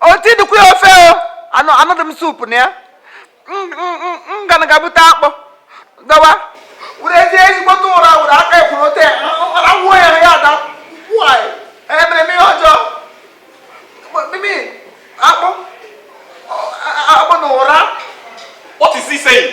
oti dịkwa ya ofe o anụ anụ dị m soup na ya ngana ga-ebute akpụ dọwa werezie ezigbote ụra were aka ekwuru ote awụọ ya ya ada nwaanyị emere m ihe ọjọọ mimi akpụ akpụ na ụra What is he saying?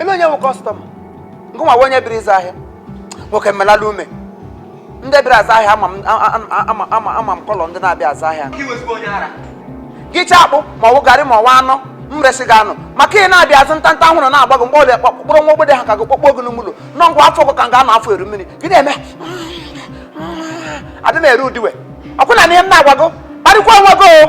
eme onye wụ customer nke nwa wụ onye bịara ịzụ ahịa nwoke mmelala ume ndị bịara ịzụ ahịa ama m- a- a- a- ama- ama- ama m colour ndị na-abịa azụ ahịa Gị wezụga onye ara. gị richaa akpụ ma ọ wụ garị ma ọ wụ anụ m resị gị anụ maka ị na-abịa azụ ntanta ahụ na-agba gị mgbe ọbịa kpọkpụrụ nwa ogbede ha ka gị kpọkpọ gị n'ime ụlọ nọ ngwa afọ gị ka m ga-anọ afọ eru mmiri gị na-eme adị na-ere udiwe ọkwụna na ihe m na-agwa gị kparịkwa onwe gị o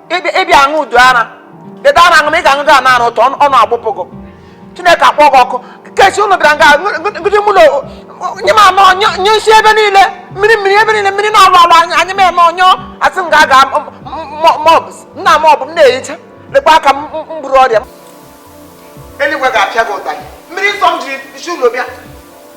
ị bịa aṅụ udu ara dede ara aṅụ ma ị ga-aṅụdị ana ara ụtọ ọnụ agbụpụ gị Chineke akpọ gị ọkụ ke si ụlọ bịara nga ngụdị mụ na nye m anọ nyụ nsị ebe niile mmiri mmiri ebe niile mmiri na-alụ alụ anyị anyị ma eme ọ nyụọ asị m ga-aga mọbs nna m ọ bụ m na-ehicha lekwa aka m mgburu ọrịa m eluigwe ga-apịa gị ụtarị mmiri nsọ m jiri si ụlọ bịa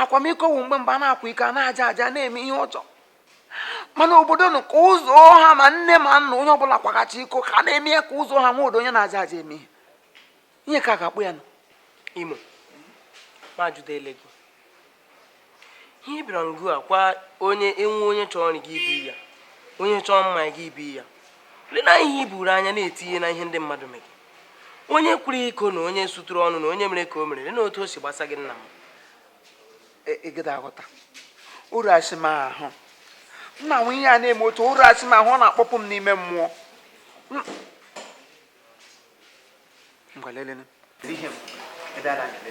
akwamiko wụ mgbe mgbe a na-akwa iko a na-aja aja na-eme ihe ọjọọ mana obodo nụ ka ụzọ ha ma nne ma nna onye ọbụla kwaghachi iko ka a na-eme ya ka ụzọ ha nwa odo onye na-aja aja eme ihe ihe ka a ga-akpụ ya nụ imo ma jụda ele gị ihe ị bịara nga a kwa onye enwe onye chọrọ nri gị ibi ya onye chọrọ mmanya gị ibi ya lee na ihe i buru anya na-etinye na ihe ndị mmadụ mere onye kwara iko na onye suturu ọnụ na onye mere ka o mere na otu o si gbasa gị nna m ịgịda e, e aghọta Urashi m ahụ na-enwe ihe a na-eme otu Urashi m ahụ ọ na-akpọpụ m n'ime mmụọ ngwa lelee ihe m ebe a na-agide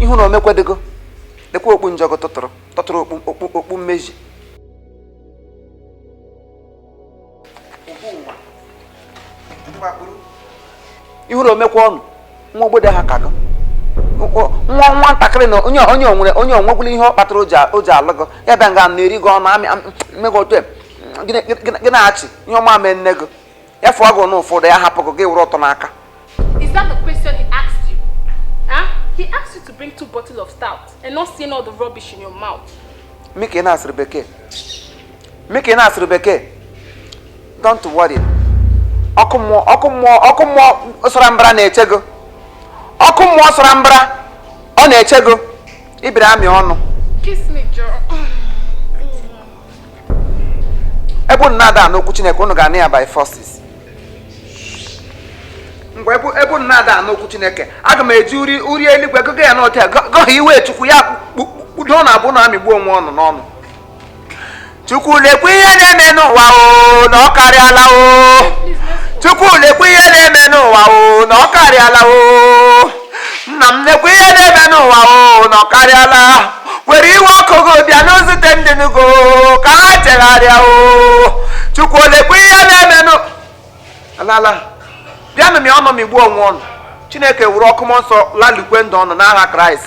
ị hụna o mekwadego lekwa okpu njọgụ tụtụrụ tụtụrụ okpu okpu mmezi ị hụna o mekwa ọnụ nwa ogbede ha ka gị nwa nwantakịrị na onye onye o nwere onye o nwegula ihe ọ kpatara o ji a- o ji alụ gị ya bịa nga na-eri gị ọnụ amị am- mme gị otu a, gị na- gị na- gị na-eche ihe ọma mee nne gị ya fụọ gị na ụfọdụ ya hapụ gị gị were ọtọ n'aka Is that the question he asked you? Huh? He asked you to bring two bottles of stout and not saying all the rubbish in your mouth. mụ ka ị na-asụrụ bekee Mụ ka ị na-asụrụ bekee don't worry ọkụ mmụọ sara mbara na-eche gị ọkụ mmụọ sara mbara ọ na-eche gị ibiri amị ọnụ ebe unu na-ada anụ okwu Chineke unu ga-anụ ya by force mgbe ebe unu na-ada anụ okwu Chineke aga m eji uri eluigwe gụgụ ya n'otu ya gọghị iwe Chukwu ya kpudo unu abụọ na-amịgbu onwe unu n'ọnụ chukwu lekwe ihe na-eme n'ụwa o na ọ karịala o chukwu lekwe ihe na-eme n'ụwa o na ọ karịala o nna m lekwe ihe na-eme n'ụwa o na ọ karịala were iwe ọkụ gị bịanụ zute ndị nugo ka ha chegharịa o chukwu lekwe ihe na-eme n'ala bịanụ mị ọnụ mịgbuo onwe unu chineke were ọkụ mmụọ nsọ lalukwe ndụ unu n'aha kraịst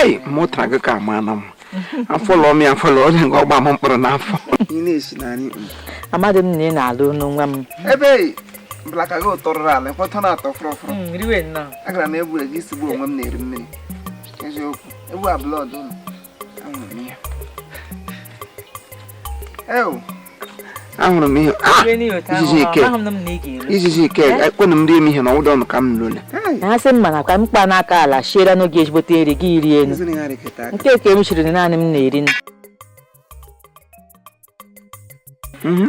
ei mụtara gị ka ma na m afọ lụọ m ya afọ lụọ onye nke ọgba m mkpụrụ n'afọ ị na-esi na anyị amadị m na ị na-alụ n'onwe m ebe blaka gị ụtọ rụrụ ala ekwetọ na-atọ fụrọfụrụ hmm, agara m egwu ego isi bụ onwe m na-eri mmiri eziokwu egwu abroad ụlọ anwụrụ m ya ahụrụ m ihe ah! ijiji ike ijiji ike eh? ekwenụ m rie m ihe na ọwụda ọnụ ka m lụle ha sị mma na ka m kpa n'aka ala shiere n'oge ezigbote nri gị iri elu nke ka m chiri naanị m na-eri mhm.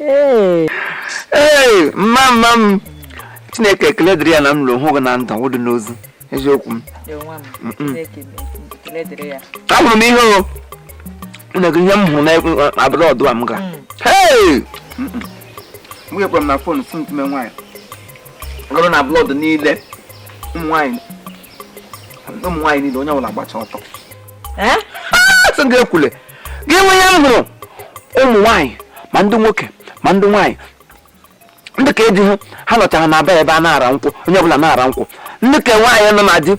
ee mama m chineke ekele dịrị ya na m lọrọ hụ gị na ndụ ọ wụdị n'ozu eziokwu m ahụrụ m ihe o na-ekwu ihe m hụrụ n'abroad a m ga m ga-ekwere m na fon si ntụme nwaanyị ọrụ n'abroad niile ụmụ nwaanyị niile onye ọbụla gbacha ọtọ sị ga-ekwule gị nwe ya m hụrụ ụmụ nwaanyị ma ndị nwoke ma ndị nwaanyị ndị ka eji ha ha nọchara na bar ebe a na-ara nkwụ onye ọbụla na-ara nkwụ ndị ke nwaanyị nọ na di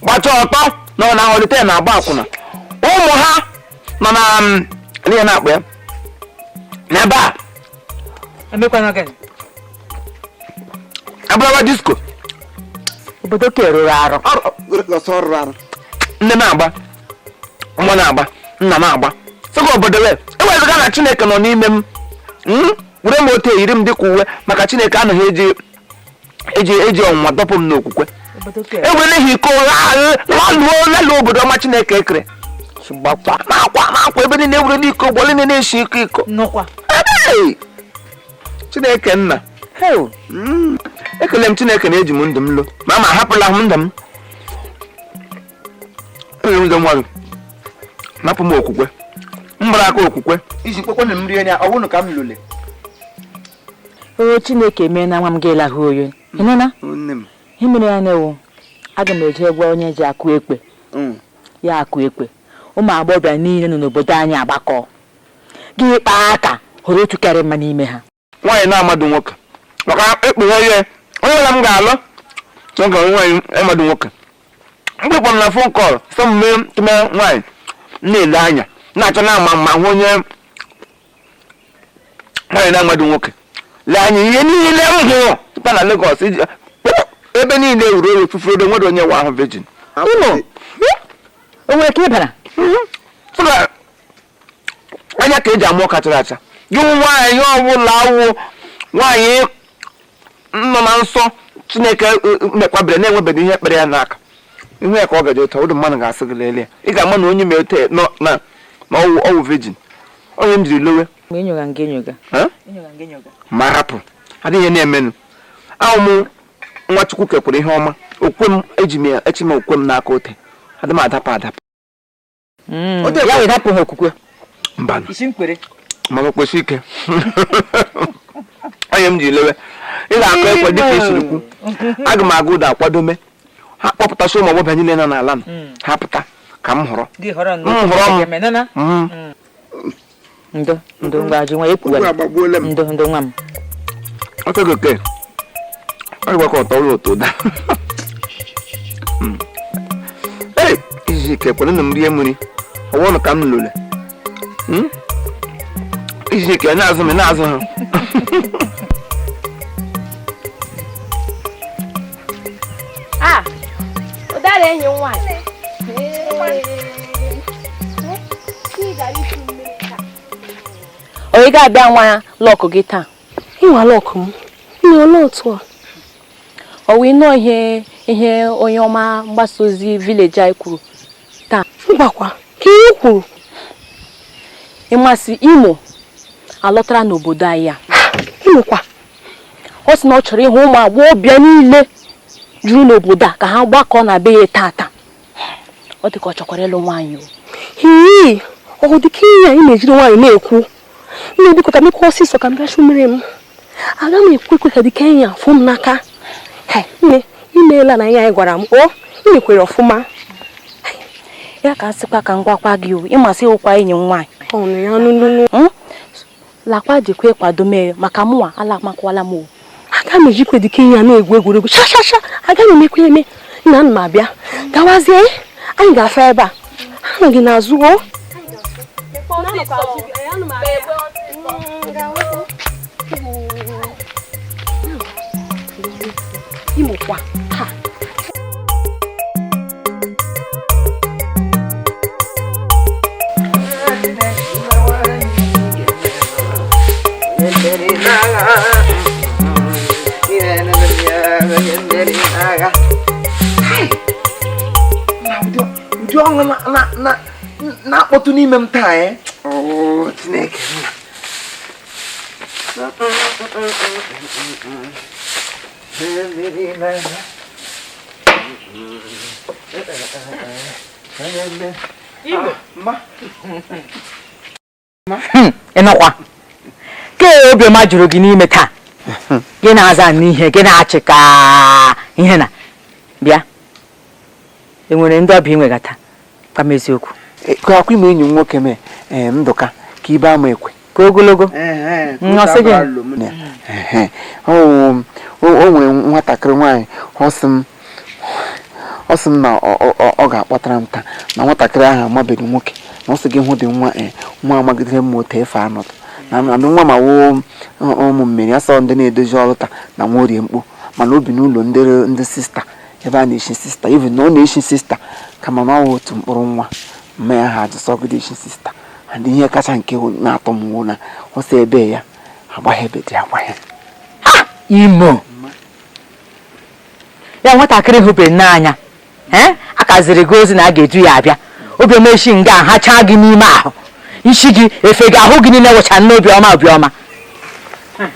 gbacha ọtọ na ọ na-ahọlite na-agba akwụna ụmụ ha nọ na mm, ihe na-akpa ya na ebe a emekwana gịnị abụrụwa disko obodo ka rụrụ arụ ọrụ ọrụ- ọsọ ọrụ arụ nne na-agba nwa na-agba nna na-agba sịga obodo wee ewezuga na chineke nọ n'ime m m were m otu eyiri m dịka uwe maka chineke anaghị eji ọnwụnwa dọpụ m n'okwukwe obodo ka ewere ha iko laluo laluo obodo ọma chineke ekere gbakwa n'akwa n'akwa ebe niile ewere n'iko ụgbọ niile na-esi iko iko nụkwa Hey! chineke nna Heo, mm, ekele m chineke na eji m ndụ m lọ mama ahapụla m ndụ m enwere ndị mmadụ napụ m okwukwe m gbara aka okwukwe iji kpekwe na mmiri anya ọ bụrụ ka m lụle o chineke mee na nwa m ga-elahụ oyi ị nụna ihe mere ya na-ewu aga m eje gwa onye ji akụ ekwe mm. ya akụ ekwe ụmụ agbọghọbịa niile nọ n'obodo anyị agbakọ gị kpaa aka họrọ otu karị mma n'ime ha nwaanyị na-amadụ nwoke maka ekpughe ihe onye ọla m ga-alụ nwoke nwaanyị amadụ nwoke mgbe kpọrọ na phone call sọ m mee tụme nwaanyị na-ele anya na-achọ na ama ma hụ onye nwaanyị na-amadụ nwoke lee anya ihe niile m hụrụ tupu na Lagos iji ebe niile ruru eru fufuru ebe nwere onye nwa ahụ virgin Unu? O nwere ka ị bara? Sọ na anya ka eji ama ọka chara acha gị nwaanyị ọbụla awụ nwaanyị nọ na nsọ chineke e, e, mekwabere na-enwebeghị ihe kpere ya n'aka ihu ya ka ọ gaje ụtọ ụdị mmadụ ga-asị gị lelee ị ga-ama na onye mere tee nọ na na ọwụ ọwụ virgin onye m jiri lowe Mgbe enyoga nga enyoga. Eh? Enyoga nga enyoga. ma hapụ adịghị ihe na-emenụ awụ m nwa chukwu kekwere ihe ọma okwe m eji m ya eji m okwe m n'aka ote adị m adapụ adapụ Mm. Ọ dị- ya wee hapụ ha okwukwe mba isi mkpere mana kwesie ike onye m ji lewe ị ga-akụ ekwe dịka i siri kwu aga m aga ụda akwadome ha kpọpụtasị ụmụ agbọbịa niile nọ n'ala nọ ha pụta ka m họrọ gị họrọ Mm, họrọ m. nnọọ Mm. ndo ndo ngwa ji nwa ekwuwa Okwu agbagbuola m. ndo ndo nwa m ọtọ gị oke ọ gwakọ ọtọ ụlọ ụtọ ụda ee izu ike kwere na m rie mmiri ọwụnụ ka m lụle Hmm? izu ike ị na-azụ m ị na-azụ ha Ah, ụdara enyi m nwaanyị. Ị ga-abịa nwaa luck gị taa? Ịnwa luck m. Nne olee otu a? Ọ wee nọọ ihe ihe onye ọma mgbasa ozi village anyị kwuru taa. Mbakwa, ka ihe kwuru. Ị ma sị Imo alọtara n'obodo anyị a. Imo kwa. ọ sị na ọ chọrọ ịhụ ụmụ agbọghọbịa niile juru n'obodo a ka ha gbakọọ na be ya tata ọ dị ka ọ chọkwara ịlụ nwaanyị hii ọ dị ka ihe a ị na-ejiri nwayọọ na-ekwu nne biko ka m mekwa ọsịsọ ka m bịa chuo mmiri m aga m ekwe ekwe ka dị ka enyi afụ m n'aka nne imeela na ihe a ị gwara m o ị mekwere ọfụma ya ka a sịkwa ka m gwakwa gị o ị ma sị ị wụkwa enyi m nwaanyị lakwa dịkwa ịkwado mere maka mụnwa alamakwala m o aga m ejikwa dịka ihe ya na-egwu egwuregwu shashasha aga m emekwa eme nna m abịa gawazie anyị ga-afa ebe a anọ m gị n'azụ o ị makwa ha ụdị ọṅụ na-akpọtụ n'ime m taa eh? oh, Chineke ịnụkwa ke obiọma juru gị n'ime taa gị na-aza n'ihe gị na-achị ka ihe na bịa enwere ndị ọbịa i nwega taa gwa m eziokwu ka akwa ime enyi m nwoke mee ee ndụka ka ibe ama ekwe ka ogologo ọ sị gị Ehe. o o- o nwere nwatakịrị nwaanyị ọ sị m ọ sị m na ọ- ọ- ọ- ọ ga-akpọtara m taa na nwatakịrị ahụ amabeghị nwoke na ọ sị gị hụ ụdị nwa ee nwa amagidere m otu efe anọdụ na na nwa ma woo ụmụ mmiri o so ndị na-edozi altar na nwa orie mkpu mana o bi n'ụlọ ndị ndị sista ebe a na-echi sista even na ọ na-echi sista kama na ọ wụ otu mkpụrụ nwa mma ya ha ajụ sị ọ gaghị echi sista and ihe kacha nke na-atọ m wụ na ọ sị ebe ya agbaghị ebe dị agbaghị imo ya nwatakịrị hụbeghị n'anya a ka ziri gị ozi na a ga-edu ya abịa obi ọma eshi nga ha chaa gị n'ime ahụ isi gị efe gị ahụ gị niile wụcha n'obi ọma obi ọma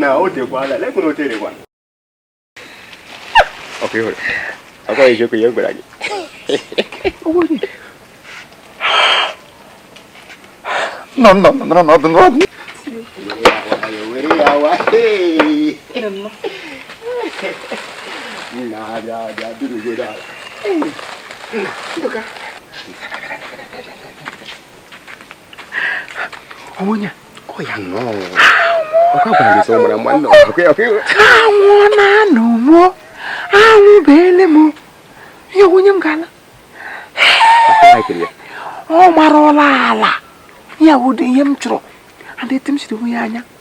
na o tekwala lekwana o terekwa ọkụ ịhụrụ ọkụ eziokwu ya gwara gị nọ nọ nọ nọ ọdụ n'ọdụ were ya wa na abịa abịa duru gị ala onye ọ ya nnọọ anwụ na-anụ mụ anwụ beele m ya wụ onye m ga-ala ọ marụla ala ya wụ ụdị ihe m chọrọ and etu m siri onwe ya anya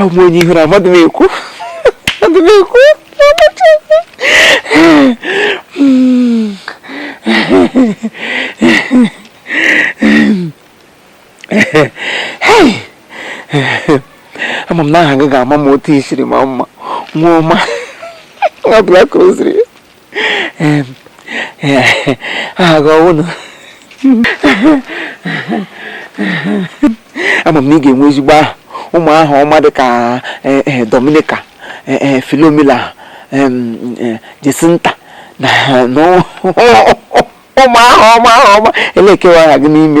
abụ m onye ị hụrụ amadị m ekwu ama m na aha gị ga-ama mma otu i siri maa mma nwa ọma nwa Block Rosary aha gị ọ wụ na ama m na ị ga-enwe ezigbo aha ụmụ aha ọma dị ka eh, eh, Dominica eh, Philomena Jacinta na ụmụ aha ọma elee ke wụ aha gị n'ime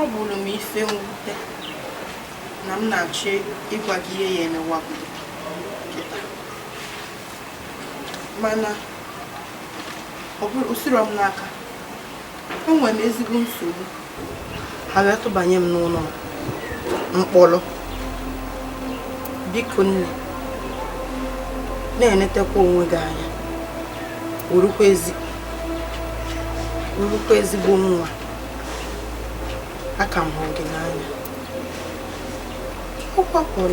ọ bụrụ m ife mwute na m na-achọ ịgwa gị ihe ya emewa mana ọ bụrụ o siro m n'aka enwere m ezigbo nsogbu ha wee tụbanye m n'ụlọ mkpọrọ biko nne na-enetekwa onwe gị anya wụrụkwa ezigbo nwa aka m hụ gị n'anya ọ kwa Pọl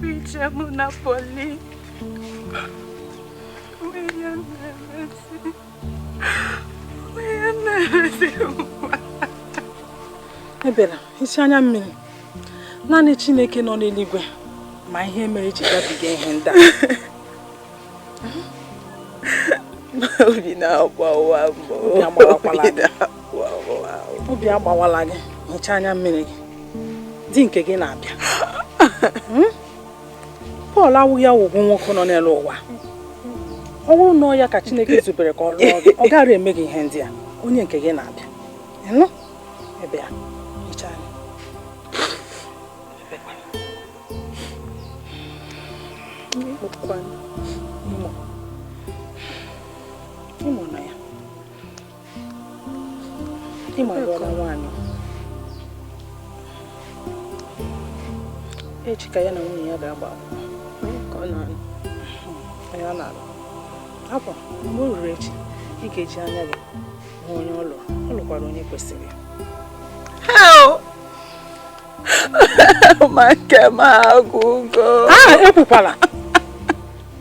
Picha mụ na Pọl nwunye na-emesi nwunye na-emesi nwa ebela isi anya mmiri naanị Chineke nọ n'eluigwe ma ihe mere i ji gabiga ihe ndị a obi na-agbawa m obi agbawala gị hichaa anya mmiri gị di nke gị na-abịa hmm? Pọl awụghị ọgwụgwụ nwoke nọ n'elu ụwa ọ bụrụ na ọ ya ka Chineke zubere ka ọ lụọ gị ọ gaghị eme gị ihe ndị a onye nke gị na-abịa ị nụ ebe a echi ka ya na nwunye ya ga-agba akwụkwọ mgbe o ruru echi ị ga-eji anya gị hụ onye ọ lụrụ ọ lụkwara onye kwesịrị ya ma nke m agwụgo aha ekwukwala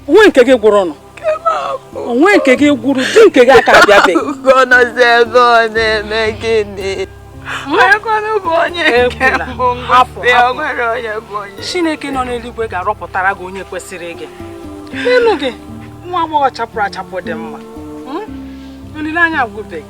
o nwe nke gị gwụrụ nụ o nwe nke gị gwụrụ di nke gị aka abịabeghị gị nọzi ebe ọ na-eme gịnị onye bụ onye nke mbụ ngọzi o nwere onye bụ onye chineke nọ n'eluigwe ga-arọpụtara gị onye kwesịrị gị lee nụ gị nwa agbọghọ chapụrụ achapụ dị mma hmm? olileanya agwụbeghị